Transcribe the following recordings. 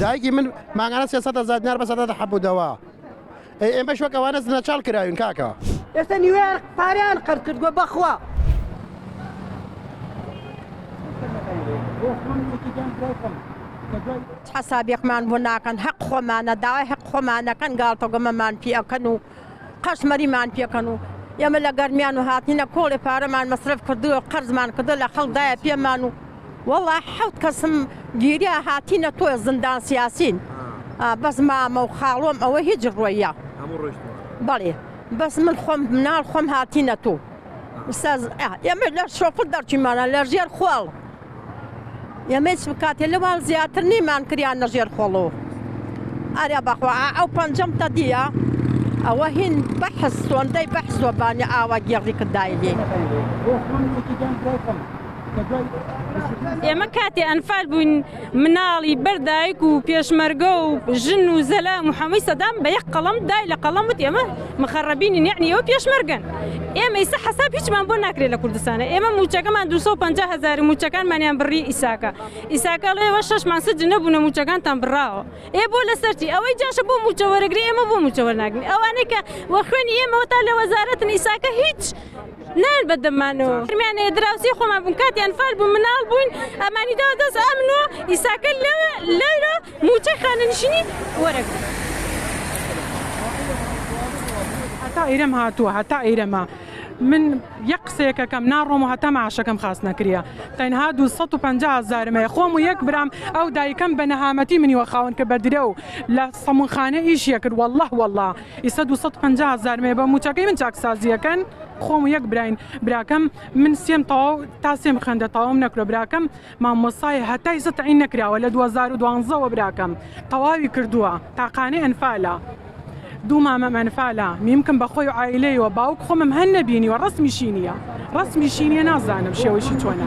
دایکی من مانگانە سێ سەد هەزار دینار بەسەردا دەحەبوودەوە، ئەی ئێمەش وەک ئەوانە زنەچاڵ کراوین کاکە. ئێستا نیوەیان پارەیان قەرز کردووە بەخوا. حسابێکمان بۆ ناکەن هەق خۆمانە داوای هەق خۆمانەکەن گاڵتە گۆمەمان پێ ئەکەن و قەشمەریمان پێکەن و ئێمە لە گەرمیان و هاتنینە کۆڵێ پارەمان مەسرف کردووە قەرزمان کردو لە خەڵدایە پێمان و وەڵا حەوت کەسم گیریا هاتینە تۆێ زندان سیاسین بەس مامە و خاڵۆم ئەوە هیچ ڕۆیە بەڵێ بەس من خۆم مناڵ خۆم هاتینە تۆ ئێمە لە شۆفڵ دەرچیمانە لە ژێر خۆڵ ئێمە چ بکاتێ لەوان زیاتر نیمان کریان لە ژێر خۆڵۆ ئاریا بەخوا ئەو پەنجەم تە دیە ئەوە هین بەحس سۆندەی بەحسۆبانی ئاوا گێڕی کردایلی. ئێمە کاتێ ئەنفال بووین مناڵی بەردایک و پێشمەرگە و ژن و زەلا محەمەی سەدام بە یەک قەڵم دای لە قەڵم وت ئێمە مخەڕەبینی نێعنی ئەوە پێشمەرگەن ئێمە ئیسە حساب هیچمان بۆ ناکرێت لە کوردستانە ئێمە موچەکەمان 250 هزار موچەکانمانیان بڕی ئیساکە ئیساکە لێوە شەشمان سج نەبوونە موچەکانتان بڕاوە ئێ بۆ لەسەرتی ئەوەی جاشە بۆ موچەوەرەگری ئێمە بۆ موچەوە ناگرین ئەوانەی کە وە خوێنی ئێمەوە تا لە وەزارەتن ئیساکە هیچ نان بە دەمان و فرمیانەیە دراوسی خۆمان بوون کاتیان فەر بوو مناڵ بووین ئەمانی دا دەست ئەمن و ئیساکە لەوە لەرە موچەی خانەنشینی وەرەگ هەتا ئیرەم هاتووە هەتا ئیرەمە من یە قسەیەکەکەم ناڕۆم و هەتا ماشەکەم خاست نەکرە تەنها 250 هزارمەیە خۆم و یەک برام ئەو دایکەم بە نەهامەتی منیوە خاون کە بەدرە و لە سەمونخانە ئیشیە کرد والله والله ئیستا دوو سەد پەنجا هەزار مێ بە موچەکەی من چاکسازی ئەکەن. خۆم و یەک براین براکەم من سێم تەواو تا سێم خوێندە تەواوم نەکرۆ براکەم مامۆسایە هەتا ئیستا تەعین نەکراوە لە دوو هەزار و دوانزە وە براکەم تەواوی کردووە تاقانەی ئەنفالە دوو مامەم ئەنفالە میمکم بە خۆی و عایلەی وە باوک خۆمم هەن نەبینیوە ڕەسمیشی نییە ڕەسمیشی نییە نازانم شێوەشی چۆنە.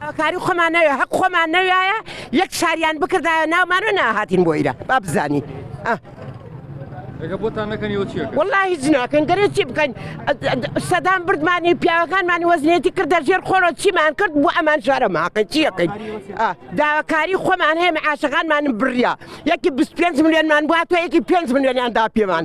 داواکاری خۆمان نەوێ هەق خۆمان نەویایە یەک شاریان بکردایە ناومان و ناهاتین بۆ ئیرە با بزانین والله هیچ ناکەین گەرە چی بکەین سەدان بردمانی پیاوەکانمانی وەزنێتی کردە ژێر خۆرە چیمان کرد بۆ ئەمان شارە ماقی چیەکەین داواکاری خۆمان هەیە عاشەکانمان بریا یەکی 25 میلیۆنمان بووە تۆ یەکی 5 میلیۆنیان دا پێمان.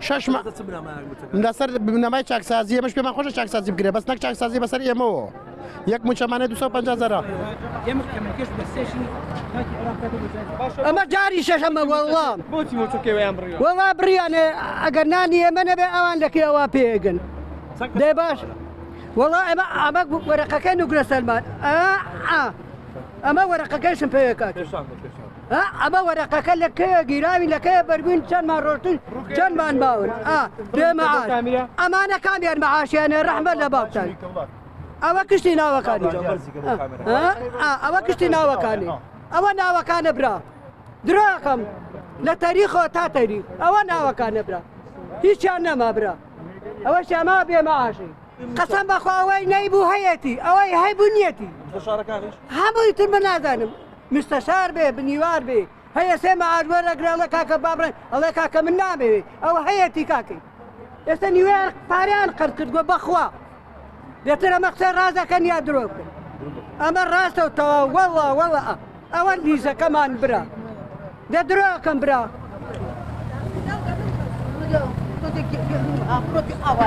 شش مانگ لەسەر چ بنەمایەک متمانە؟ لەسەر بنەمای چاکسازی ئێمەش پێمان خۆشە چاکسازی بکرێت بەس نەک چاکسازی بەسەر ئێمەوە یەک مووچەمانێ 250 هەزارە. ئەمە جاری شەشەمە وەڵڵا وەڵڵا بڕیانێ ئەگەر نانی ئێمە نەبێ ئەوان لە کوێ ئەوە پێگن دەی باش وەڵڵا ئێمە ئەمە وەرەقەکەی نوکرە سەلمان ئا ئا ئەمە وەرەقەکەیشم پێکات. ئەمە وەرەقەکە لە کەیە گیراوی لە کەیە بەربووین چەندمان ڕۆشتن چەندمان باون بێمەعاش ئەمانە کامیان مەعاشیانە ڕەحمە لە باوتان ئەوە کشتی ناوەکانی ئەوە کشتی ناوەکانی ئەوە ناوەکانە برا دراکەم لە تەریخۆ تا تەری ئەوە ناوەکانە برا هیچیان نەما برا ئەوە شەما بێمەعاشی قەسەم بەخواوەی نەیبوو هەیەتی ئەوەی هەیبوو نیەتی هەمووی تر بە نازانم مستەشار بێ بنیوار بێ هەیە سێ مەعاش وەرەگرێ ئەڵێ کاکە با بڕێ ئەڵێ کاکە من نامەوێ ئەوە هەیەتی کاکەی ئێستا نیوێر پاریان قەر کردووە بەخوا دێتر ئەمە قسە ڕازەکەن یا درۆکن ئەمە ڕاستە و تەواو وەڵا وەڵا ئەوە لیزەکەمان برا دە درۆکەم برا ئەوە